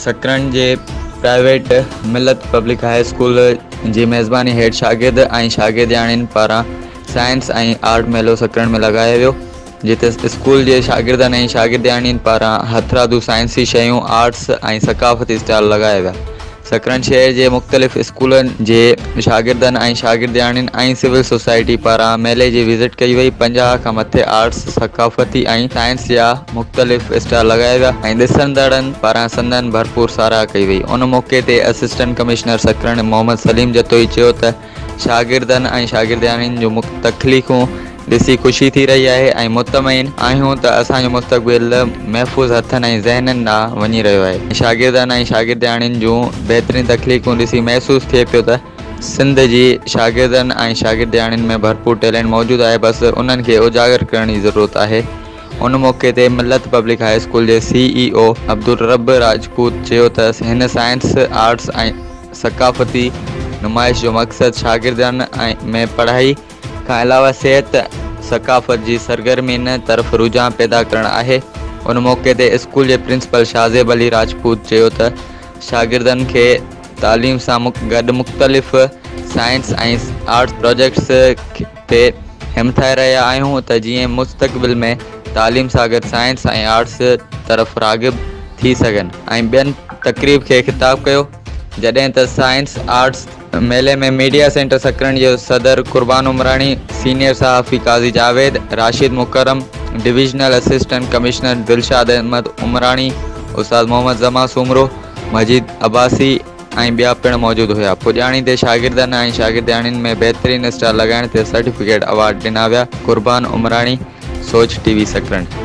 سڪرنڊ جي private Millat public high school جي ميزباني هيٺ شاگرد ۽ شاگردياڻين پاران سائنس ۽ آرٽ ميلو سڪرنڊ ۾ لڳايو ويو جتي اسڪول جي شاگردن ۽ شاگردياڻين پاران هٿرادو سائنسي شيون آرٽس ۽ ثقافتي اسٽال لڳايا ويا سکرن شهر جي مختلف اسڪولن جي شاگردن ۽ شاگردياڻين ۽ سول سوسائٽي پاران ميلي جي وزٽ ڪئي وئي پنجاهه کان مٿي آرٽس ثقافتي ۽ سائنس جا مختلف اسٽال لڳايا ويا ۽ ڏسندڙن پاران سندن ڀرپور ساراهه ڪئي وئي ان موقعي تي اسسٽنٽ ڪمشنر سکرن محمد سليم جتوئي چيو ته شاگردن ۽ شاگردياڻين جون تخليقون ڏسي خوشي ٿي رهي آهي ۽ مطمئن آهيون ته اسان جو مستقبل محفوظ هٿن ۽ ذهنن ڏانهن وڃي رهيو آهي. شاگردن ۽ شاگردياڻين جون بهترين تخليقون ڏسي محسوس ٿئي پيو ته سنڌ جي شاگردن ۽ شاگردياڻين ۾ ڀرپور ٽيلينٽ موجود آهي بس انهن کي اجاگر ڪرڻ جي ضرورت آهي. ان موقعي تي ملت پبلڪ هاء اسڪول جي C E O Abdulrab Rajput چيو ته هن سائنس، آرٽس ۽. ثقافتي نمائش جو مقصد شاگردن ۾ پڙهائي کان علاوه صحت ثقافت جي سرگرمين طرف رجحان پيدا ڪرڻ آهي ان موقعي تي اسڪول جي پرنسپل شاهزيب علي راجپوت چيو ته شاگردن کي تعليم سان گڏ مختلف سائنس ۽ آرٽس پراجيڪٽس تي همٿائي رهيا آهيون ته جيئن مستقبل ۾ تعليم سان گڏ سائنس ۽ آرٽس طرف راغب ٿي سگهن ۽ ٻين تقريب کي خطاب ڪيو جڏهن ته سائنس آرٽس ميلي ۾ ميڊيا سينٽر سڪرنڊ جو صدر قربان عمراڻي سينيئر صحافي قاضي جاويد راشد مڪرم divisional assistant commissioner Dilshad Ahmed Umrani استاد محمد زمان سومرو مجيد عباسي ۽ ٻيا پڻ موجود هيا. پڄاڻي تي شاگردن ۽ شاگردياڻين ۾ بهترين اسٽال لڳائڻ تي سرٽيفڪيٽ ايوارڊ ڏنا ويا، قربان عمراڻي، سوچ ٽي وي سڪرنڊ.